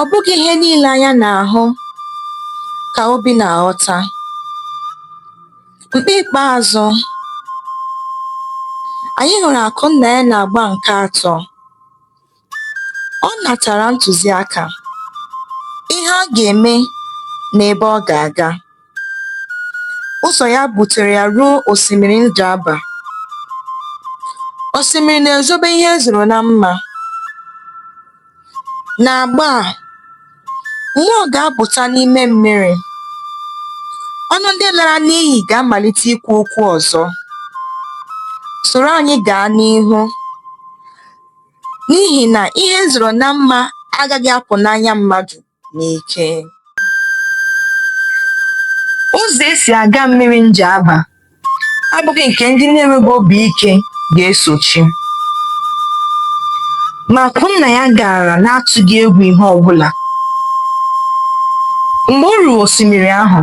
Ọ bụghị ihe niile anya na-ahụ ka obi na-aghọta. Mgbe ikpeazụ, anyị hụrụ Akụnnaya n'agba nke atọ. Ọ natara ntụziaka, ihe ọ ga-eme na ebe ọ ga-aga. Ụzọ ya butere ya ruo osimiri Njaba. Osimiri na-ezobe ihe e zoro na mma. N'agba a, mmụọ ga-apụta n'ime mmiri. Ọnụ ndị lara n'iyi ga-amalite ikwu okwu ọzọ. Soro anyị gaa n'ihu. n'ihi na ihe e zoro na mma agaghị apụ n'anya mmadụ n'ike. Ụzọ e si aga mmiri Njaba abụghị nke ndị na-enweghị obi ike ga-esochi. Ma Akụnnaya gara n'atụghị egwu ihe ọbụla. Mgbe o ruru osimiri ahụ,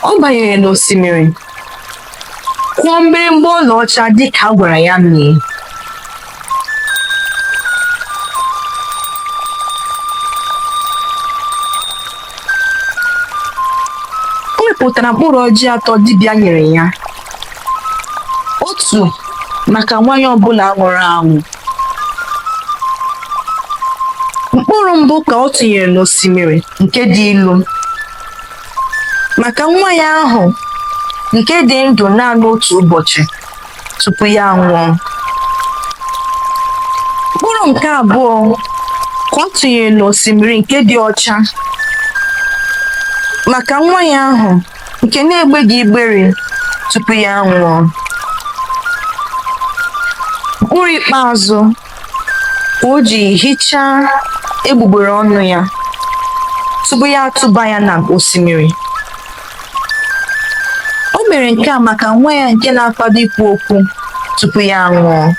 ọ banyere n'osimiri kụọ mgbịrịgba ọlaọcha dịka a gwara ya mee pụtara mkpụrụ ọjị atọ dibịa nyere ya otu maka nwa ya ọbụla nwụrụ anwụ mkpụrụ mbụ ka ọ tụnyere n'osimiri nke dị ilu maka nwa ya ahụ nke dị ndụ naanị otu ụbọchị tupu ya anwụọ mkpụrụ nke abụọ ka ọ tụnyere n'osimiri nke dị ọcha maka nwa ya ahụ nke na-egbeghị igbere tupu ya anwụọ mkpụrụ ikpeazụ ka o ji hichaa egbugbere ọnụ ya tupu ya atụba ya na osimiri O mere nke a maka nwa ya nke na-akwado ikwu okwu tupu ya anwụọ.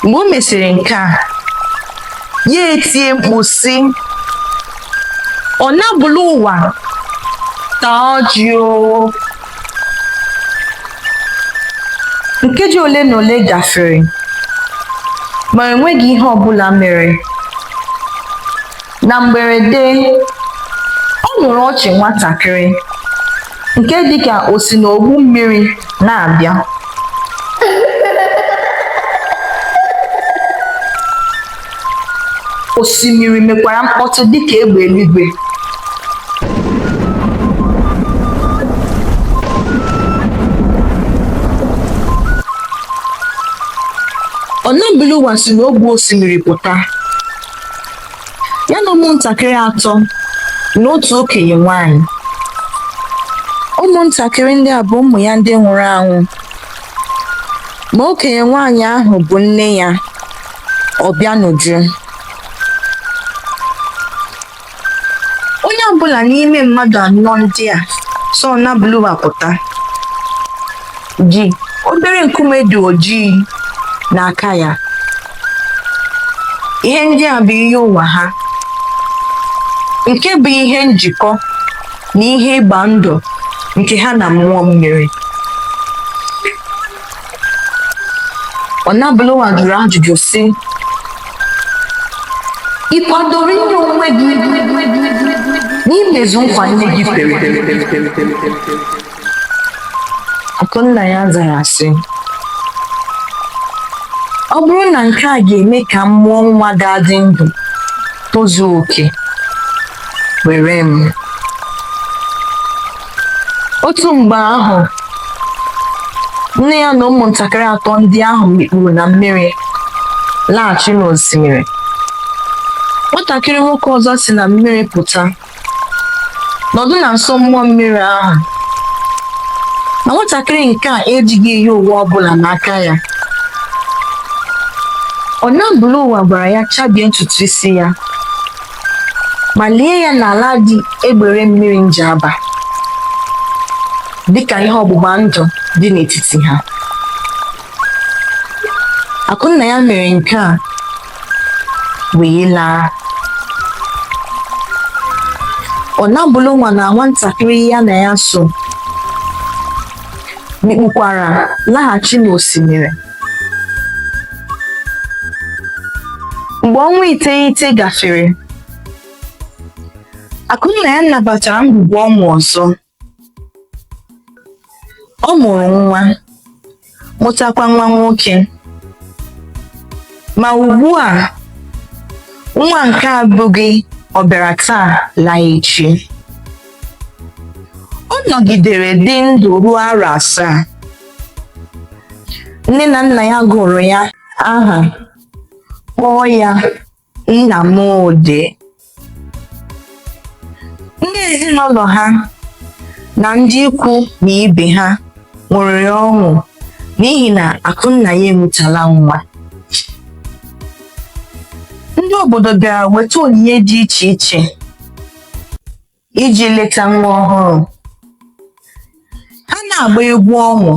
Mgbe o mesịrị nke a, ya etie mkpu sị, Ọ nabụla ụwa taa ọjị o! Nkeji ole na ole gafere, ma enweghị ihe ọ bụla mere. na mgberede ọ nụrụ ọchị nwatakịrị nke dịka o si n'ogbu mmiri na-abịa osimiri mekwara mkpọtụ dịka egbe eluigwe Ọnabụlụwa si n'ogbu osimiri pụta ya na ụmụntakịrị atọ na otu okenye nwanyị ụmụntakịrị ndị a bụ ụmụ ya ndị nwụrụ anwụ ma okenye nwanyị ahụ bụ nne ya Ọbịanuju onye ọbụla n'ime mmadụ anọ ndị a so Ọnabụlụwa pụta ji obere nkume dị ojii n'aka ya ihe ndị a bụ iyi ụwa ha nke bụ ihe njikọ na ihe ịgba ndụ nke ha na mmụọ mmiri Ọnabụlụwa jụrụ ajụjụ sị ị kwadoro inye onwe gị n'imezu nkwa nne gị kwere Akụnnaya zara sị ọ bụrụ na nke a ga-eme ka m mụọ nwa ga-adị ndụ tozuo oke were m otu mgbe ahụ nne ya na ụmụntakịrị atọ ndị ahụ mikpuru na mmiri laghachi n'osimiri nwatakịrị nwoke ọzọ si na mmiri pụta nọdụ na nso mmụọ mmiri ahụ na nwatakịrị nke a ejighị iyi ụwa ọbụla n'aka ya Ọnabụlụwa gwara ya chabie ntutu isi ya ma lie ya n'ala dị egbere mmiri Njaba dịka ihe ọgbụgba ndụ dị n'etiti ha Akụnnaya mere nke a wee laa Ọnabụlụwa na nwatakịrị ya na ya so mikpukwara laghachi n'osimiri mgbe ọnwa iteghete gafere Akụnnaya nabatara ngwugwu ọṅụ ọzọ ọ mụrụ nwa mụtakwa nwa nwoke ma ugbu a nwa nke a abụghị ọbịara taa laa echi ọ nọgidere dị ndụ ruo arọ asaa nne na nna ya gụrụ ya aha kpọọ ya Nnamdi ndị ezinụlọ ha na ndị ikwu na ibe ha ṅụrịrị ọṅụ n'ihi na Akụnnaya amụtala nwa ndị obodo bịara weta onyinye dị iche iche iji leta nwa ọhụrụ ha na-agba egwu ọṅụ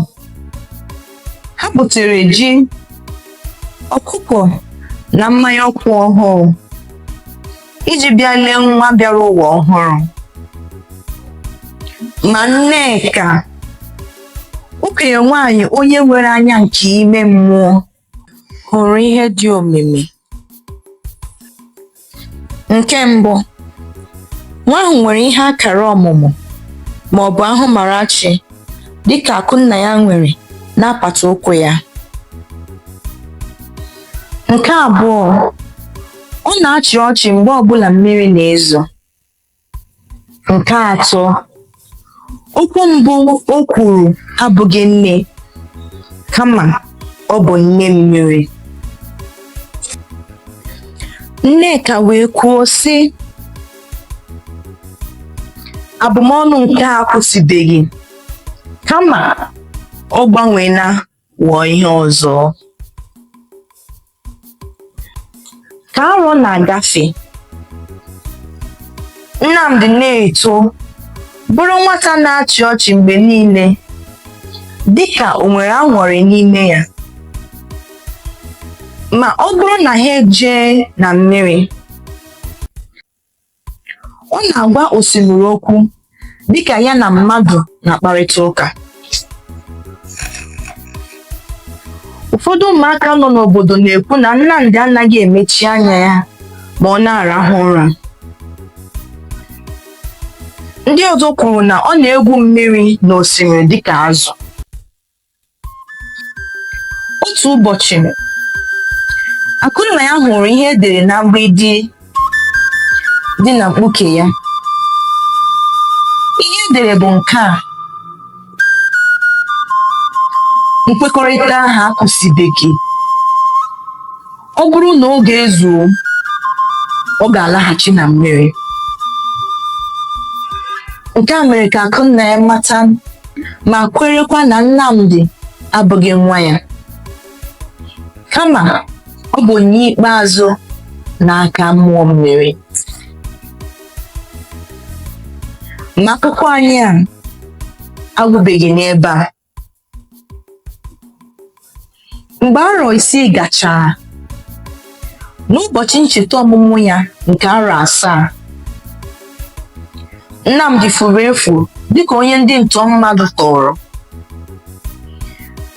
ha butere ji ọkụkọ na mmanya nkwụ ọhụrụ iji bịa lee nwa bịara ụwa ọhụrụ ma Nneka okenye nwaanyị onye nwere anya nke ime mmụọ hụrụ ihe dị omimi. Nke mbụ, nwa ahụ nwere ihe akara ọmụmụ ma ọ bụ ahụmarachi dịka Akụnnaya nwere n'apata ụkwụ ya. Nke abụọ, ọ na-achị ọchị mgbe ọbụla mmiri na-ezo. Nke atọ, okwu mbụ o kwuru abụghị nne, kama ọ bụ nne mmiri. Nneka wee kwuo, sị, Abụmọnụ nke a akwụsịbeghị, kama ọ gbanweela ghọọ ihe ọzọ ka arọ na-agafe Nnamdi na-eto bụrụ nwata na-achị ọchị mgbe niile dịka o nwere aṅụrị n'ime ya ma ọ bụrụ na ha ejee na mmiri Ọ na-agwa osimiri okwu dịka ya na mmadụ na-akparịta ụka. Ụfọdụ ụmụaka nọ n'obodo na-ekwu na Nnamdi anaghị emechi anya ya ma ọ na-arahụ ụra. Ndị ọzọ kwuru na ọ na-egwu mmiri n'osimiri dịka azụ. otu ụbọchị Akụnnaya hụrụ ihe e dere na mgbidi dị na mkpuke ya ihe e dere bụ nke a nkwekọrịta ahụ akwụsịbeghị ọ bụrụ na oge ezuo ọ ga-alaghachi na mmiri nke a mere ka Akụnnaya mata ma kwerekwa na Nnamdi abụghị nwa ya kama ọ bụ onye ikpeazụ n'aka mmụọ mmiri ma akụkọ anyị a agwụbeghị n'ebe a mgbe arọ isii gachara n'ụbọchị ncheta ọmụmụ ya nke arọ asaa Nnamdi furu efu dịka onye ndị ntọ mmadụ tọọrọ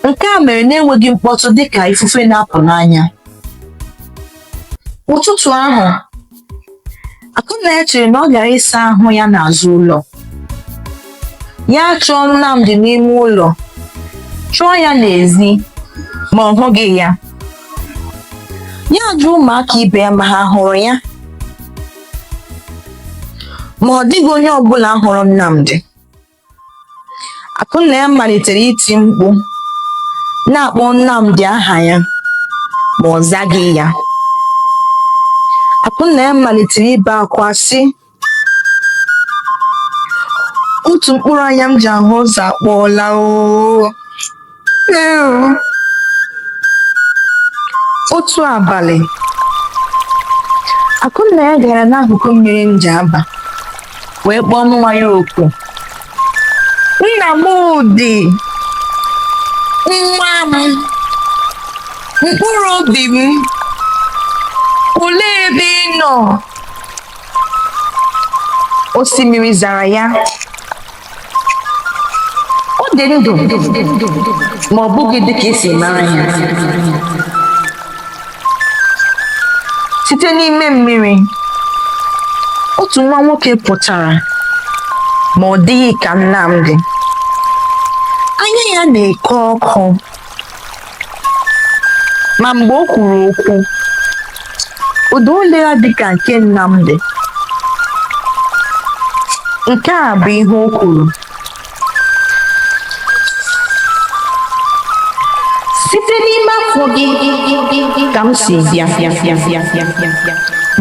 nke a mere na-enweghị mkpọtụ dịka ifufe na-apụ n'anya ụtụtụ ahụ Akụnna chere na ọ gara ịsa ahụ ya n'azụ ụlọ ya achọọ Nnamdi n'ime ụlọ chọọ ya n'ezi ma ọ hụghị ya ya ajụọ ụmụaka ibe ya ma ha hụrụ ya ma ọ dịghị onye ọbụla hụrụ Nnamdi Akụnna ya malitere iti mkpu na-akpọ Nnamdi aha ya ma ọ zaghị ya. Akụnna ya malitere ibe akwa sị otu mkpụrụ anya m ji ahụ ụzọ akpọọla oo otu abalị akụnna ya gara n'akụkụ mmiri Njaba wee kpọọ nwa ya oku Nnamdi nwa m mkpụrụ obi m olee ebe ị nọ osimiri zara ya ọ dị ndụ ma ọ bụghị dị ka e si mara ya site n'ime mmiri otu nwa nwoke pụtara ma ọ dịghị ka Nnamdi anya ya na-eke ọkụ ma mgbe o kwuru okwu ụda olu ya dịka nke Nnamdi nke a bụ ihe o kwuru site n'ime afọ gị ka m si bịa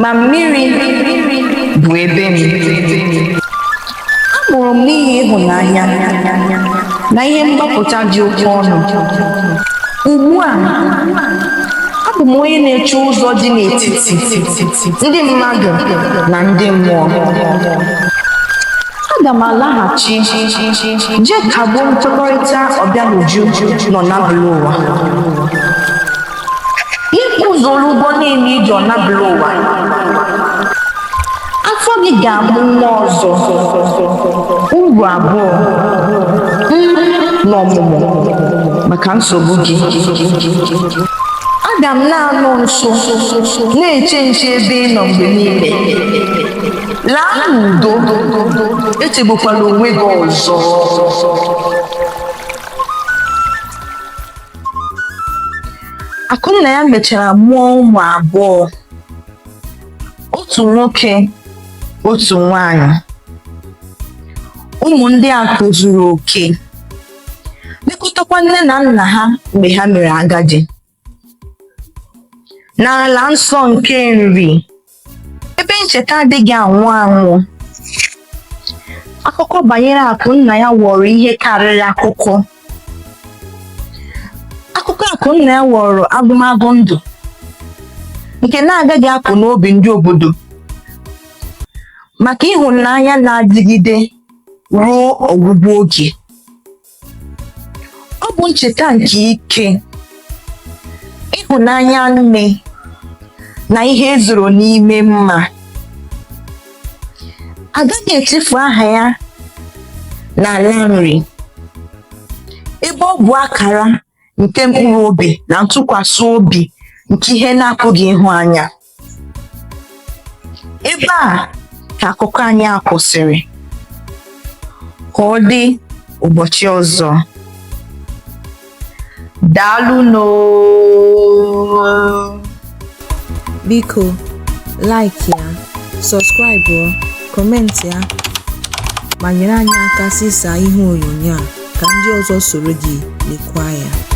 ma mmiri bụ ebe m mụrụ m n'ihi ịhụnanya na ihe mgbapụta dị oke ọnụ ugbu a abụ m onye na-eche ụzọ dị n'etiti ndị mmadụ na ndị mmụọ aga m alaghachi jee kagbuo nkwekọrịta Ọbịanuju nọ n'abụla ụwa ị kwụzuola ụgwọ niile i ji Ọnabụlụwa afọ gị ga-amụ nwa ọzọ uru abụọ n'ọmụmụ maka nsogbu gị aga m na-anọ nso na-eche nche ebe ị nọ mgbe niile laa n'udo echegbukwala onwe gị ọzọ Akụnnaya mechara mụọ ụmụ abụọ otu nwoke otu nwanyị ụmụ ndị a tozuru oke lekọtakwa nne na nna ha mgbe ha mere agadi n'ala nsọ nke Nri ebe ncheta adịghị anwụ anwụ akụkọ banyere Akụnnaya ghọrọ ihe karịrị akụkọ akụkọ Akụnnaya ghọrọ agụmagụ ndụ nke na-agaghị apụ n'obi ndị obodo maka ịhụnanya na-adịgide ruo ọgwụgwụ oge ọ bụ ncheta nke ike ịhụnanya nne na ihe e zoro n'ime mma a gaghị echefu aha ya n'ala Nri ebe ọ bụ akara nke mkpụrụ obi na ntụkwasị obi nke ihe na-apụghị ịhụ anya ebe a ka akụkọ anyị a kwụsịrị ka ọ dị ụbọchị ọzọ daalụnụ o Biko, like ya, subscribe ọ, comment ya, ma nyere anyị aka zisaa ihe onyonyo a ka ndị ọzọ soro gị lekwa ya.